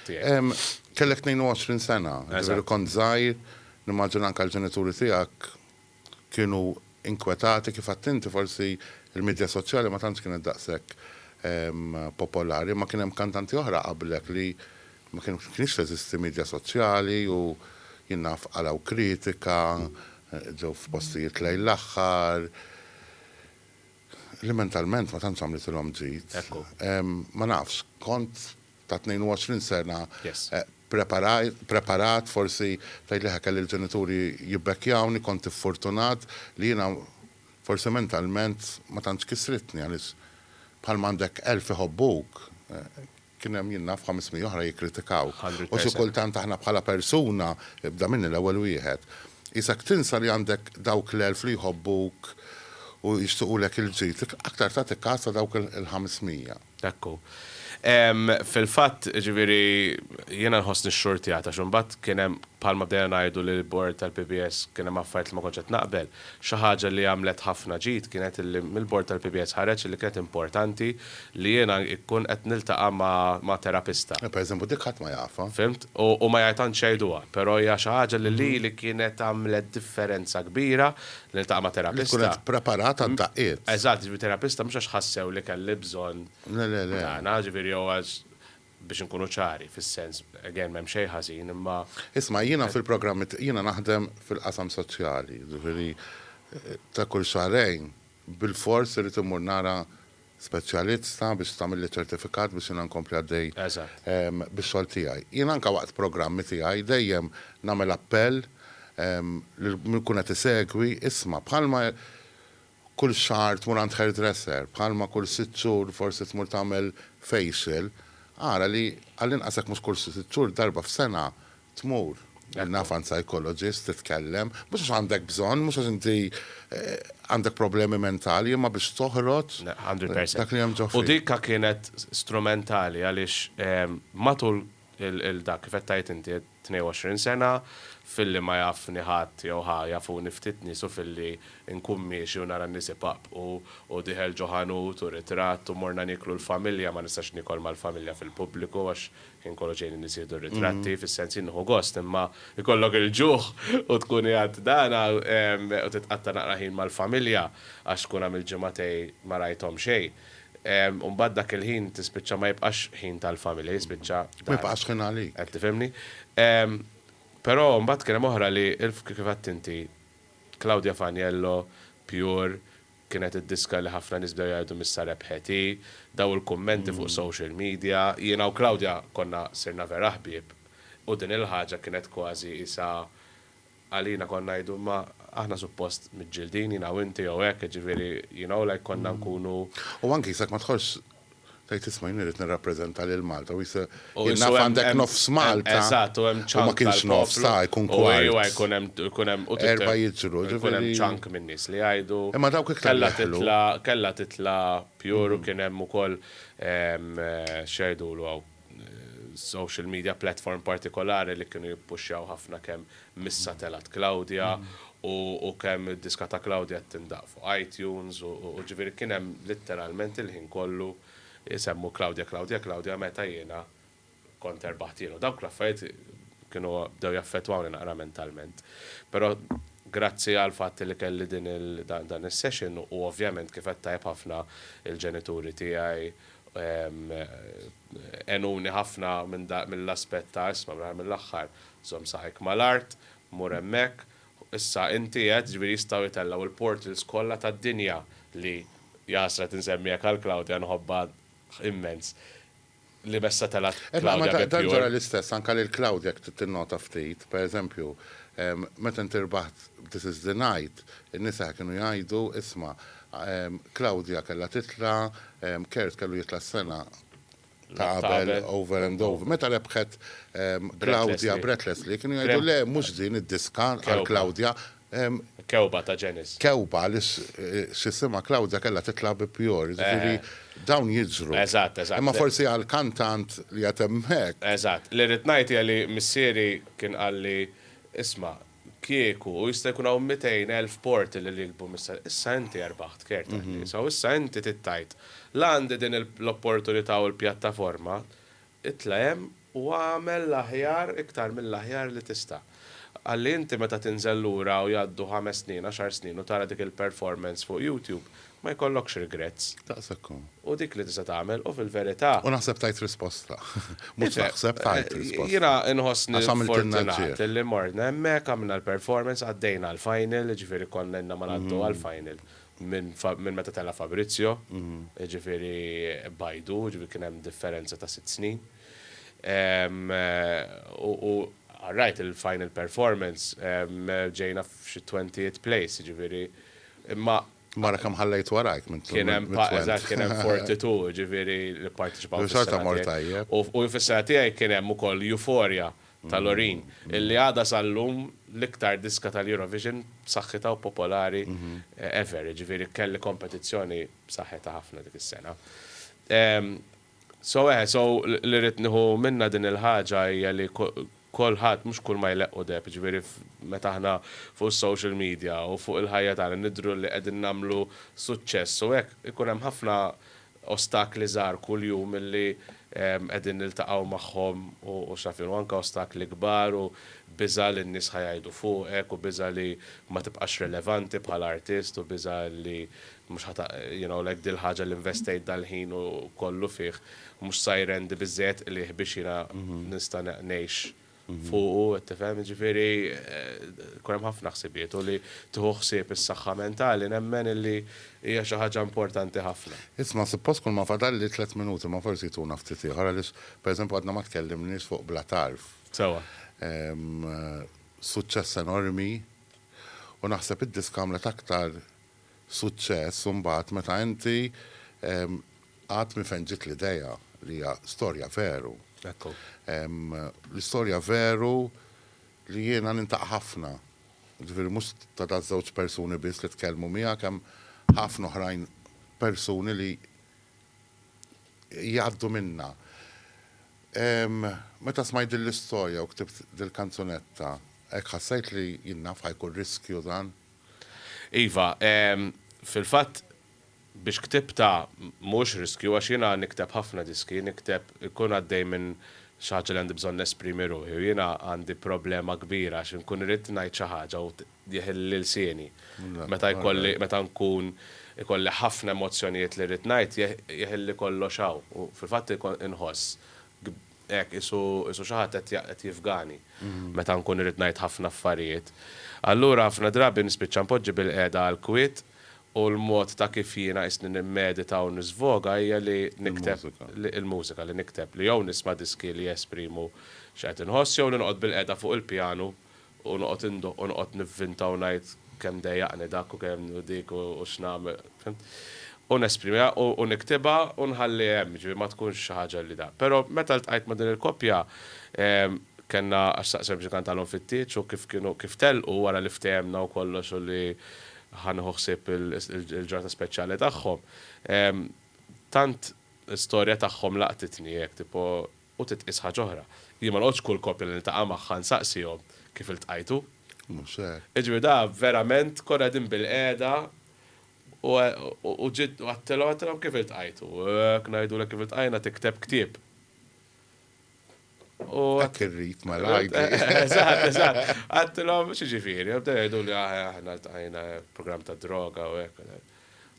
tiegħek. Kellek 22 sena, ġifieri kont żgħir, nimmaġina anke l-ġenituri tiegħek kienu inkwetati kif għedt inti forsi l-midja soċjali ma tantx kienet daqshekk popolari, imma kien hemm kantanti oħra qablek li ma kienx teżisti midja soċjali u jien naf qalgħu kritika, ġew f'postijiet lejn l-aħħar. li mentalment ma tantx għamlitilhom ġid. Ekku. Ma nafx, kont ta' 22 sena Yes. eh, preparaj- preparat, forsi tgħid li ħa kelli l-ġenituri jibbekkjawni, kont iffortunat li jiena forsi mentalment ma tantx kisritni għaliex bħalma għandek elf iħobbuk, eh, Kien hemm, jien naf, 500 oħra jikkritikaw. U xi kultant aħna bħala persuna, ibda minni l-ewwel wieħed, qisek tinsa li għandek dawk l-elf li jħobbuk u jixtiqulek il-ġid. Aktar tagħti kas ta' dawk il-500. Hekk hu. Fil-fatt, jiġifieri, jiena nħossni xxurtjat għax imbagħad kien hemm, bħalma bdejna ngħidu li l-Bord tal-PBS kien hemm affarijiet li ma kontx qed naqbel, Xi ħaġa li għamlet ħafna ġid kienet illi mill-bord tal-PBS ħareġ illi kienet importanti li jiena ikkun qed niltaqa' ma' terapista. Per eżempju dik ħadd ma jafha. Fhimt? U ma tantx jgħiduha, però hija xi ħaġa li lili kienet għamlet differenza kbira li niltaqa' ma' terapista. Li tkun qed preparat għad-daqqiet. Eżatt, jiġifieri terapista mhux għax ħassew li kelli bżonn. Le, le, le. Tagħna, jiġifieri jew għax biex inkunu ċari, fis-sens, again, m'hemm xejn ħażin, imma. Isma', jiena fil-programmi, jiena naħdem fil-qasam soċjali, jiġifieri ta' kull xahrejn bilfors irrid immur nara speċjalista biex tagħmilli ċertifikat biex jiena nkompli għaddej bix-xogħol tiegħi. Jiena anke waqt programmi tiegħi dejjem nagħmel appell lil min ikun qed isegwi, isma', bħalma Kull xahar tmur għand hairdresser, bħalma kull sitt xhur forsi tmur tagħmel facial, ara li għall-inqas jekk mhux kull sitt xhur, darba f'sena tmur għand naf għand psychologist titkellem, mhux għax għandek bżonn, mhux għax inti għandek problemi mentali, imma biex toħroġ dak li hemm ġo fik. U dika kienet strumentali għaliex matul Il-dak, kif qed tgħid inti, 22 sena, filli ma jafni ħadd jew ħa jafuni ftit nies u filli nkun miexi u nara n-nies ipaqpqu u dieħel ġo ħanut u ritratt u morna nieklu l-familja, ma nistax niekol mal-familja fil-pubbliku għax ħin kollu ġejjin in-nies jieħdu r-ritratti, fis-sens jien nieħu gost imma jkollok il-ġuħ u tkun qiegħed dan u titqatta' naqra ħin mal-familja għax tkun għamilt ġimgħatej ma rajthom xejn. U mbagħad dak il-ħin tispiċċa ma jibqax ħin tal-familja, jispiċċa dar. Ma jibqax ħin għalik. Qed tifhimni? Però mbagħad kien hemm oħra li kif għedt inti, Claudia Faniello, Pure, kienet id-diska li ħafna nies bdew jgħidu m'issa rebħet hi, daw il-kummenti fuq social media, jiena u Claudia konna sirna vera ħbieb u din il-ħaġa kienet kważi qisha, Għalina konna ngħidu imma aħna suppost miġġildin jiena u inti jew hekk, jiġifieri you know like konna nkunu. U anki jisek ma tħossx tgħid isma' jien irrid nirrappreżenta lil Malta u jisek jien naf għandek nofs Malta. Eżatt u hemm ċank tal-poplu. U ma kienx nofs ta' jkun kwart. U jkun hemm u jkun hemm u titgħid. Erba' jiġru ġifieri. Jkun hemm ċank minn nies li jgħidu. Imma dawk iktar li jidħlu. Kellha titla' kellha titla' pure u kien hemm ukoll x'jgħidulu hawn. social media platform partikolari li kienu jippuxxjaw ħafna kemm missa telgħet Claudia u kemm id-diska ta' Claudia qed tindaqq fuq iTunes u ġifieri kien hemm litteralment il-ħin kollu jsemmu Claudia Claudia Claudia meta jiena kont erbaħt jien u dawk l-affarijiet kienu bdew jaffettwawni naqra mentalment. Però grazzi għall-fatt li kelli din dan is-session u ovvjament kif qed tajjeb ħafna il-ġenituri tiegħi Għenuni ħafna mill-aspett ta' isma' fl-aħħar mill-aħħar żomm saqajk mal-art, mur hemmhekk, issa inti qed, jiġifieri jistgħu jitellgħu l-portals kollha tad-dinja li, jahasra qed insemmih hekk għal Claudia nħobbha immens, li b'essa telgħet Claudia bi Pure. Dan ġara l-istess anke lil Claudia jekk tinnota ftit, pereżempju, meta inti rbaħt b'This Is The Night, in-nisa kienu jgħidu, isma', Claudia kellha titla', Kurt kellu jitla' s-sena ta' qabel, Over and Over. Meta rebħet Claudia Brett Leslie, kienu jgħidu, le, mhux din id-diska għal Claudia. Kewba ta' Janis. Kewba li x'isimha Claudia kellha titla' bi Pure. Jiġifieri dawn jiġru. Eżatt, eżatt. Imma forsi għal kantant li qiegħed hemmhekk. Eżatt. Li rrid ngħid hija li missieri kien qalli, isma', kieku, u jista' jkun hawn 200,000 porti li rikbu mis-sena, issa inti erbaħt care tan-nies, u issa inti trid tgħid, la għandi din l-opportunità u l-pjattaforma, itla' hemm u agħmel l-aħjar, iktar mill-aħjar li tista'. Ħalli inti meta tinżel lura u jgħaddu ħames snin, għaxar snin u tara dik il-performance fuq YouTube, Ma jkollokx regrets. Daqshekk hu. U dik li tista' tagħmel u fil-verità. U naħseb tajt risposta. Mhux naħseb, tajt risposta. Jiena nħossni fortunat li morna hemmhekk, għamilna l-performance, għaddejna għall-final, jiġifieri konna ilna ma ngħaddu għall-final minn meta tela' Fabrizio, jiġifieri b'għidu, jiġifieri kien hemm differenza ta' sitt snin. U all right, il-final performance, ġejna f'xi twentieth place, jiġifieri, imma Mara kemm ħallejt warajk minn Kien hemm pa, mit-twent. eżatt, kien hemm Fortitù, jiġifieri li pparteċipaw fis-sena tiegħi. Xorta mort tajjeb. U u fis-sena tiegħi kien hemm ukoll Euphoria ta' Loreen, illi għadha sal-lum l-iktar diska tal-Eurovision b'saħħitha u popolari ever, jiġifieri kelli kompetizzjoni b'saħħitha ħafna dik is-sena. So eħe, so li rrid nieħu minnha din il-ħaġa hija li kulħadd mhux kull ma jleqqu deheb, jiġifieri meta aħna fuq is-social media u fuq il-ħajja tagħna nidhru li qegħdin nagħmlu suċċess u hekk, ikun hemm ħafna ostakli żgħar kuljum li qegħdin niltaqgħu magħhom u x'naf jien u anke ostakli kbar u biża' li n-nies ħa jgħidu fuqek u biża' li ma tibqax rilevanti bħala artist u biża' li Mhux ħa ta' you know like dil-ħaġa li investejt dal-ħin u kollu fih mhux sa jrendi biżżejjed qligħ biex jiena nista' ngħix fuqu qed tifhem? Jiġifieri jkun hemm ħafna ħsibijiet u li tieħu ħsieb is-saħħa mentali nemmen illi hija xi ħaġa importanti ħafna. Isma' suppost kulma fadalli tliet minuti imma forsi jtuna ftit ieħor għaliex pereżempju għadna ma tkellimniex fuq Bla Tarf. Sewwa. Suċċess enormi u naħseb id-disk għamlet aktar suċċess imbagħad meta inti għad minn fejn ġiet l-idea li hija storja veru. Ekku. L-istorja veru li jiena nintaq ħafna, ġifieri mhux ta' da' żewġ persuni biss li tkellmu miegħek hemm ħafna oħrajn persuni li jgħaddu minnha. Meta smajt din l-istorja u ktibt dil-kanzunetta hekk ħassejt li jien naf ħajkun riskju dan? Iva, fil-fatt biex ktibtha mhuwiex riskju għax jiena nikteb ħafna diski, nikteb inkun għaddej minn xi ħaġa li għandi bżonn nesprimi ruħi u jiena għandi problema kbira għax inkun irrid ngħid xi ħaġa u jeħilli ilsieni. Meta jkolli, meta nkun ikolli ħafna emozzjonijiet li rrid ngħid jeħilli kollox hawn u fil-fatt inħoss Hekk, qisu, qisu xi ħadd qed, qed jifgani meta nkun irrid ngħid ħafna affarijiet. Allura ħafna drabi nispiċċa npoġġi bil-qiegħda għall-kwiet u l-mod ta' kif jiena qisni nimmedita u niżvoga hija li nikteb, li, il-mużika, li nikteb, li jew nisma' diski li jesprimu x'qed inħoss jew li noqgħod bil-qiegħda fuq il-pjanu U noqgħod indoqq u noqgħod nivvinta u ngħid kemm dejjaqni dak u kemm u dik u x'nagħmel, fimt? U nesprimiha u niktibha u nħalli hemm, jiġifieri ma tkunx xi ħaġa li da. Però meta ltqajt ma' din il-koppja, kellna għax xtaqt sempliċement għandhom fit-tieġ u kif kienu kif telqu wara li ftehemna u kollox u li ħa nieħu ħsieb il-ġurnata speċjali tagħhom, tant l-istorja tagħhom laqtitni hekk tipo U titqies ħaġa oħra. Jien ma noqgħodx kull koppja li niltaqa' magħha nsaqsihom, kif iltqajtu? Mhux hekk. Jiġifieri da verament konna qegħdin bilqiegħda u u ġiet u għedtilhom għedtilhom kif iltqajtu? U jekk ngħidulek kif iltqajna tikteb ktieb. U Hekk irrid mela għidli. Eżatt, eżatt. Għedtilhom x'jiġifieri? U bdew jgħiduli aħna ltqajna programm tad-droga u hekk.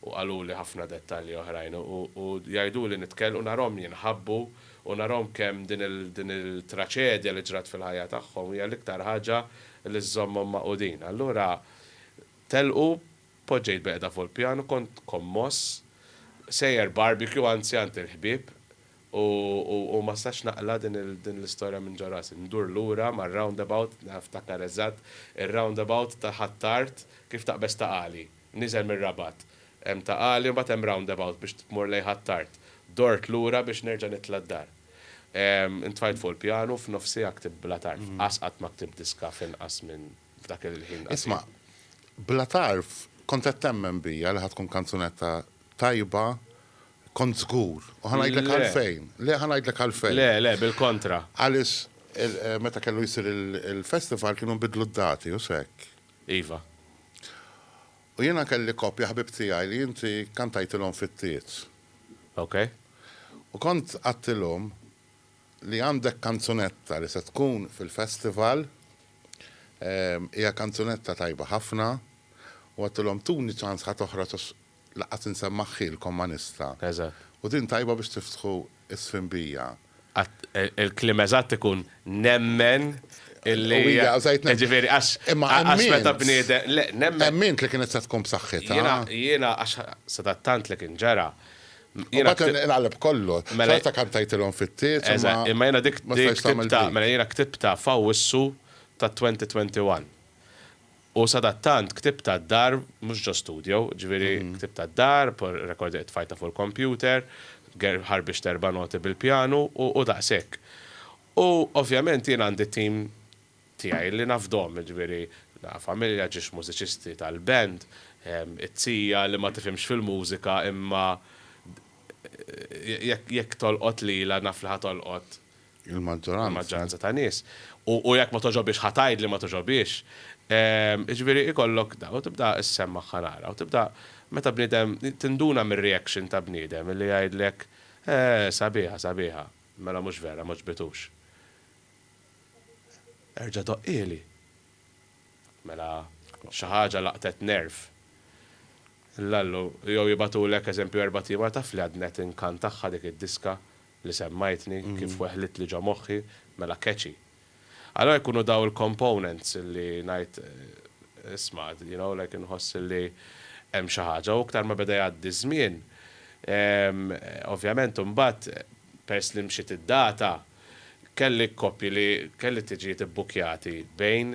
u qaluli ħafna dettalji oħrajn u jgħiduli nitkell u narahom jinħabbu u narahom kemm din il-traċedja li ġrat fil-ħajja tagħhom hija l-iktar ħaġa li żżommhom magħqudin. Allura telqu, poġġejt bil-qiegħda fuq il-pjan u kont kommoss. Sejjer barbecue, anzi għand il-ħbieb u ma stax naqla' din l-istorja minn ġo rasi. Ndur lura mar-roundabout, niftakar eżatt ir-roundabout ta' Ħ'Attard kif taqbeż ta' Għali. Niżel mir-Rabat, hemm taqali u mbagħad hemm roundabout biex tmur lejn Ħ'Attard. Dort lura biex nerġa' nitla' d-dar. Intfajt fuq il-pjanu, f'nofs siegħa ktibt bla tarf. Qas qatt ma ktibt diska f'inqas minn f'dak il-ħin qasir. Isma', Bla tarf kont qed temmen bija li ħa tkun kanzunetta tajba, kont żgur, u ħa ngħidlek għalfejn. Le. Le, ħa ngħidlek għalfejn. Le, le, bil-kontra. Għaliex meta kellu jsir il-festival kienu nbidlu d-dati, hux hekk? Iva. U jiena kelli koppja ħbieb tiegħi li inti kkantajtilhom fit-tiet. Ok. U kont għadtilhom li għandek kanzunetta li se tkun fil-festival, hija kanzunetta tajba ħafna, u għadtilhom tuni ċans ħa toħroġ għax Lanqas insem magħhilkom ma nista'. Eżatt. U din tajba biex tiftħu s-sfinbija. Qatt, il-kliem eżatt ikun nemmen illi. U hija użajt nemmen. Jiġifieri għax. Imma għax meta bniedem, le, nemmen. Emmint li kienet se tkun b'saħħitha. Jiena, jiena għax sadattant li kien ġara. U mbagħad inqaleb kollu. Xorta kantajtilhom fit-tiet. Eżatt, imma jiena dik, dik ktibtha, mela jiena ktibtha f'Awwissu tat-2021. U sadattant ktieb tad-dar mhux ġo studio, ġifieri ktieb tad-dar, recorder li tfajta fuq il-kompjuter, ħarbixt erba' noti bil-pjanu u daqshekk. U ovvjament jien għandi t-tim tiegħi li nafdhom, jiġifieri familja, ġiex mużiċisti tal-band, it-zija li ma tifhimx fil-mużika imma jekk tolqot lilha naf li ħa tolqot Il-maġġoranza. Il-maġġoranza ta' nies. U jekk ma togħġobhiex ħa tgħid li ma togħġobhiex. Jiġifieri ikollok da, u tibda issemm magħha nara, u tibda meta bniedem tinduna mir-reaction ta' bniedem illi jgħidlek, Eeh, sabiħa, sabiħa. Mela mhux vera, m'għoġbitux. Erġa' doqqieli. Mela xi ħaġa laqtet nerv. L-allu, jew jibgħatulek eżempju erbat' ieħor, taf li għadni qed inkantaha dik id-diska, li semmajtni kif weħlitli ġo moħħi, mela catchy. Allura jkunu dawn il-components li ngħid isma' you know like inħoss li hemm xi ħaġa u iktar ma beda jgħaddi ż-żmien ovvjament imbagħad peress li mxiet id-data kelli kkoppji li kelli tiġijiet ibbukkjati bejn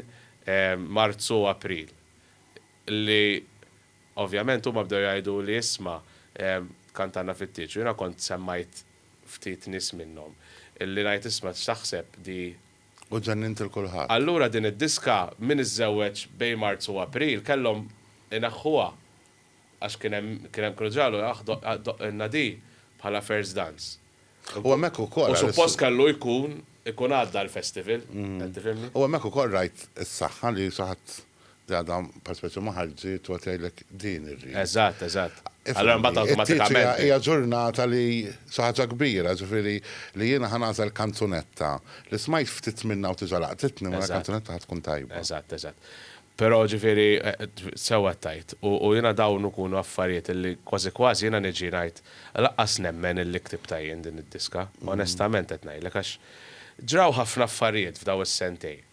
Marzu u April li Ovvjament huma bdew jgħiduli isma' kantanna fit-tieġ u jiena kont semmajt ftit nies minnhom li ngħid isma' x'taħseb di U ġennint lil kulħadd. Allura din id-diska min iżżewweġ bejn Marzu u April kellhom ineħħuha għax kien hemm kien hemm kienu ġa qalu aħ doqqilna di bħala first dance. U hemmhekk ukoll. U suppost kellu jkun ikun għadda l-festival, qed tifhimni? U hemmhekk ukoll rajt is-saħħa li xi ħadd li għadha pereżpeċju ma ħarġitx u qed jgħidlek din irrid. Eżatt, eżatt. Allura mbagħad awtomatikament. It-tliet hija hija ġurnata li xi ħaġa kbira, ġifieri li jiena ħa nagħżel kanzunetta li smajt ftit minnha u tiġa laqtitni, mela l-kanzunetta ħa tkun tajba. Eżatt, eżatt. Però, ġifieri, sew qed tgħid. U jiena dawn ikunu affarijiet li kważi kważi jiena niġi ngħid lanqas nemmen illi ktibtha jien din id-diska. Onestament qed ngħidlek għax ġraw ħafna affarijiet f'daw is-sentejn,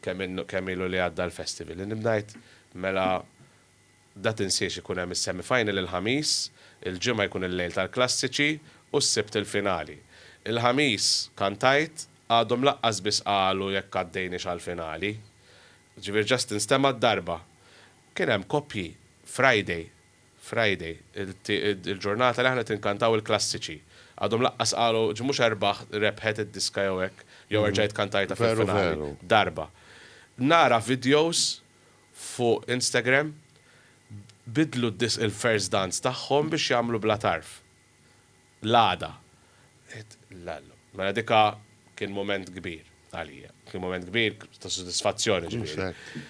kemm ilu li għadda l-festival, li bdajt mela da tinsiex ikun hemm is-semi final il-Ħamis, il-Ġimgħa jkun il-lejl tal-klassiċi u s-Sibt il-finali. Il-Ħamis kantajt, għadhom lanqas biss qalu jekk għaddejniex għall-finali. Ġifieri just instemgħa d-darba. Kien hemm koppji Friday, Friday, il-ġurnata li aħna qed inkantaw il-klassiċi. Għadhom laqqas qalu, ġi mhux erbaħ rebħet id-diska jew hekk, jew erġajt kantajtha fil-finali. Darba. Nara videos fuq Instagram, bidlu d-disk il-first dance tagħhom biex jagħmlu bla tarf. l-għada. Għidt, L-Alla. Mela dika kien mument kbir għalija. Kien mument kbir ta' sodisfazzjoni ġifieri.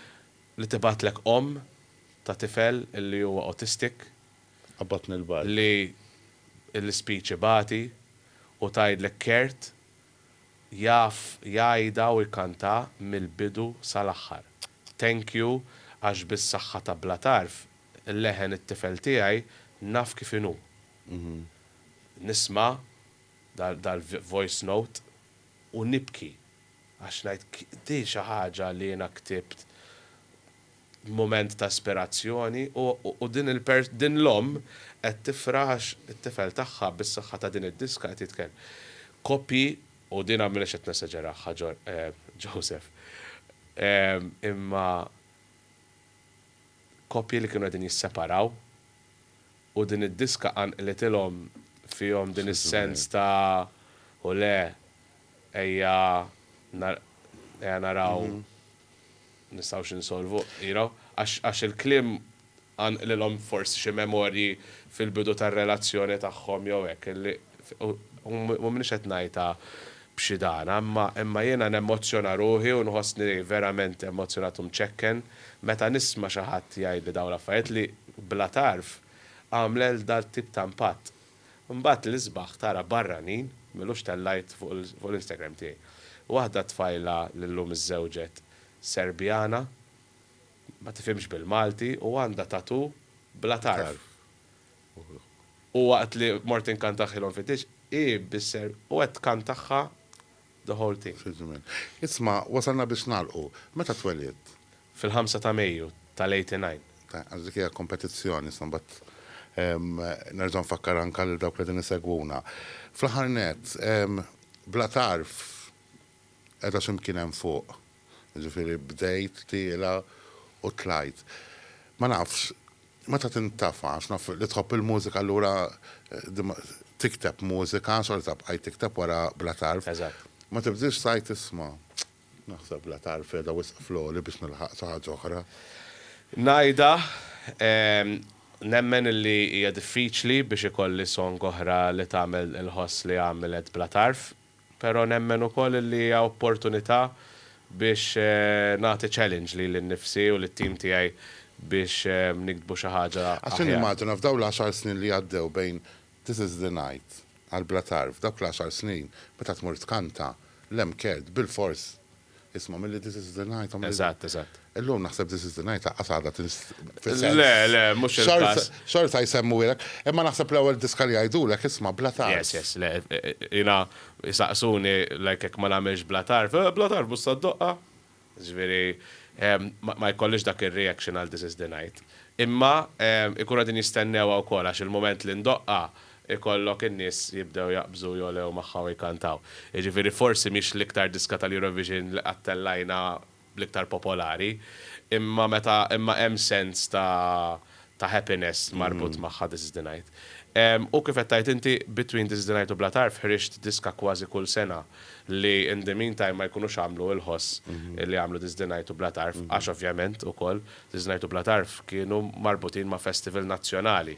Li tibgħatlek omm ta' tifel li huwa autistic. Qabbadtni l-bajt. Li l-ispeech ibati u tgħidlek Kurt jaf jgħidha u jkantha mill-bidu sal-aħħar. Thank you għax bis-saħħa ta' Bla Tarf L-leħen it-tifel tiegħi naf kif inhu. Nisma' dal-voice note u nibki għax ngħid din xi ħaġa li jiena ktibt mument ta' ispirazzjoni u din l-omm qed tifraħ għax it-tifel tagħha bis-saħħa ta' din id-diska qed jitkellem. Kopji, u din m'iniex qed nesaġeraha Joseph, imma koppji li kienu qegħdin jisseparaw u din id-diska qanqlitilhom fihom din is-sens ta' u le ejja ejja naraw nistgħux insolvu you know għax għax il-kliem qanqlilhom forsi xi memorji fil-bidu tar-relazzjoni tagħhom jew hekk li U m'iniex qed ngħidha b'xi dana, imma jiena nemmozzjona ruħi u nħossni verament emmozzjonat u mċekken meta nisma' xi ħadd jgħidli dawn l-affarijiet li, bla tarf, għamlel dal-tip ta' impatt. Imbagħad l-isbaħ tara barranin, m'ilux tellajt fuq l-Instagram tiegħi, waħda tfajla li llum iżżewġet Serbjana, ma tifhimx bil-Malti u għandha tattoo bla tarf. U waqt li mort inkantaħħilhom fit-tieġ, hi bisser u qed tkantaħħa the whole thing. Fi żmien. Isma', wasalna biex nagħlqu. Meta twelidt? Fil-ħamsa ta' Mejju tal-eighty nine. Ta, għax dik hija kompetizzjoni, issa mbagħad nerġa' nfakkar anke lil dawk li qegħdin isegwuna. Fl-aħħar nett, bla tarf, qiegħda xi mkien hemm fuq? Jiġifieri bdejt tiela' u tlajt. Ma nafx, meta tintafa' għax naf li tħobb il-mużika allura tikteb mużika, xorta bqajt tikteb wara bla tarf. Ma tibdilx tgħid isma', naħseb bla tarf qiegħda wisq fl-għoli biex nilħaq xi ħaġa oħra. Ngħidha, nemmen li hija diffiċli biex ikolli song oħra li tagħmel inħoss li għamilet bla tarf. Però nemmen ukoll li hija opportunità biex nagħti challenge lili nnifsi u lit-tim tiegħi biex niktbu xi ħaġa aħjar. Għax nimmaġina f'dawn l-għaxar snin li għaddew bejn This is the night għal Bla Tarf, dawk l-għaxar snin meta tmur tkanta, l-MCAD, bilfors Isma' milli This Is The Night għamel. Eżatt, eżatt. Illum naħseb This Is The Night laqqas għadha tinst. Le, le, mhux il-każ. Xorta jsemmuhielek, imma naħseb l-ewwel diska li jgħidulek isma' bla tarf. Yes, yes, le, jiena jsaqsuni like jekk ma nagħmilx bla tarf, eh, bla tarf bussa d-doqqa. Ġifieri, ma jkollix dak ir-reaction għal This Is The Night. Imma ikunu qegħdin jistennewha wkoll għax il-mument li ndoqqha ikollok in-nies jibdew jaqbżu, jogħlew magħha u jkantaw. Jiġifieri forsi mhix l-iktar diska tal-Eurovision li qatt tellajna bl-iktar popolari, imma meta imma hemm sens ta' ta' happiness marbut magħha This is the night. U kif qed tgħid inti, between This is the night u Bla Tarf ħriġt diska kważi kull sena li in the meantime ma jkunux għamlu l-ħoss li għamlu This is the night u Bla Tarf għax ovvjament ukoll This is the night u Bla Tarf kienu marbutin ma' festival nazzjonali.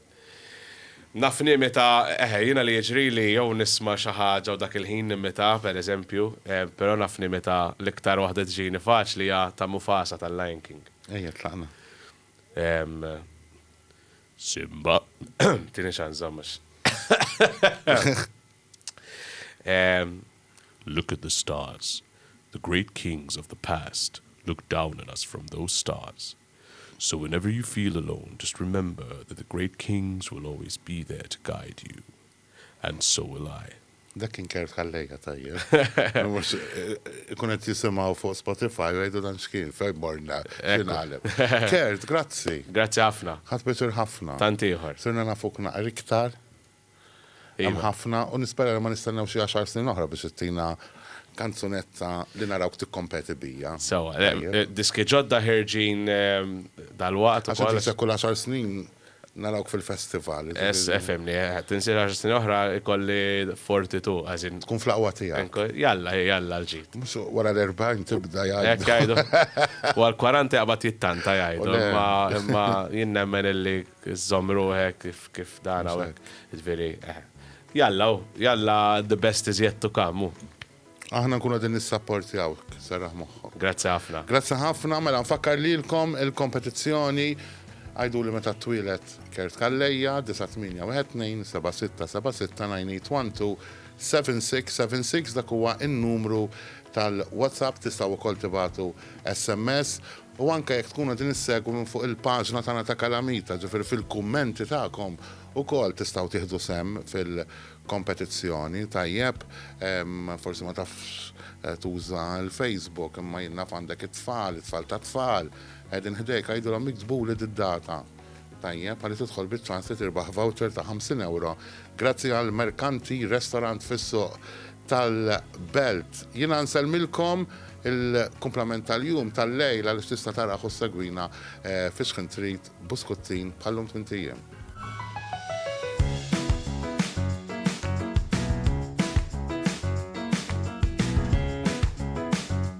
Naf nimita, eħe, jiena li jiġrili jew nisma' xi ħaġa u dak il-ħin nimita, per eżempju, però naf nimita l-iktar waħda tiġini faċli hija ta' Mufasa tal-Lion King. Ejja, tlaqna. Ehm, Simba, tini xanza mhux. Ehm, Look at the stars. The great kings of the past looked down on us from those stars. So whenever you feel alone just remember that the great kings will always be there to guide you and so will I. Dak kien Kert Calleja tajjeb. Mhux ikun qed jisimgħu fuq Spotify u jgħidu dan x'kien fejn morna x'ingħalem. Kert, grazzi. Grazzi ħafna. Ħadt pjaċir ħafna. Tant ieħor. Sirna nafuk naqra iktar. Hemm ħafna u nispera li ma nistennew xi għaxar snin oħra biex ittina kanzunetta li narawk tikkompeti bija. Sewwa, diski ġodda ħerġin dalwaqt ukoll. Għax qed tinsek kull għaxar snin narawk fil-festival. Ess, efhimni, tinsek għaxar snin oħra jkolli forti tu, as in. Tkun fl-aqwa tiegħek. Jalla, jalla l-ġid. Mhux wara l-erbgħin tibda jgħidu. Hekk jgħidu. Wara l-kwaranta jaqbad jittanta jgħidu, imma jien nemmen illi Iżżomm ruħek kif kif dan hawn hekk. Jiġifieri, eħe. Jalla hu, jalla the best is yet to come hu. Aħna nkunu qegħdin nissapportjawk, serraħ moħħok. Grazzi ħafna. Grazzi ħafna, mela nfakkar lilkom il-kompetizzjoni Għiduli meta ttwieled Kurt Calleja, 98127676981276 dak huwa n-numru tal-WhatsApp tistgħu wkoll tibagħtu SMS u anke jekk tkunu qegħdin issegwu minn fuq il-paġna tagħna ta' Kalamita, ġifieri fil-kummenti tagħkom ukoll tistgħu tieħdu sehem fil-kompetizzjoni, tajjeb, forsi ma tafx tuża l-Facebook imma jien naf għandek it-tfal, it-tfal tat-tfal qegħdin ħdejk, għidilhom jiktbuli d-data. Tajjeb, għalli tidħol bit-trans li tirbaħ voucher ta' 50 ewro grazzi għal Mercanti Restaurant fis-Suq tal-Belt. Jiena nsellmilkom il-kumplament tal-jum tal-lejl għaliex tista' tarah u ssegwina eh, fi xħin trid buskuttin bħallum tmintijiem.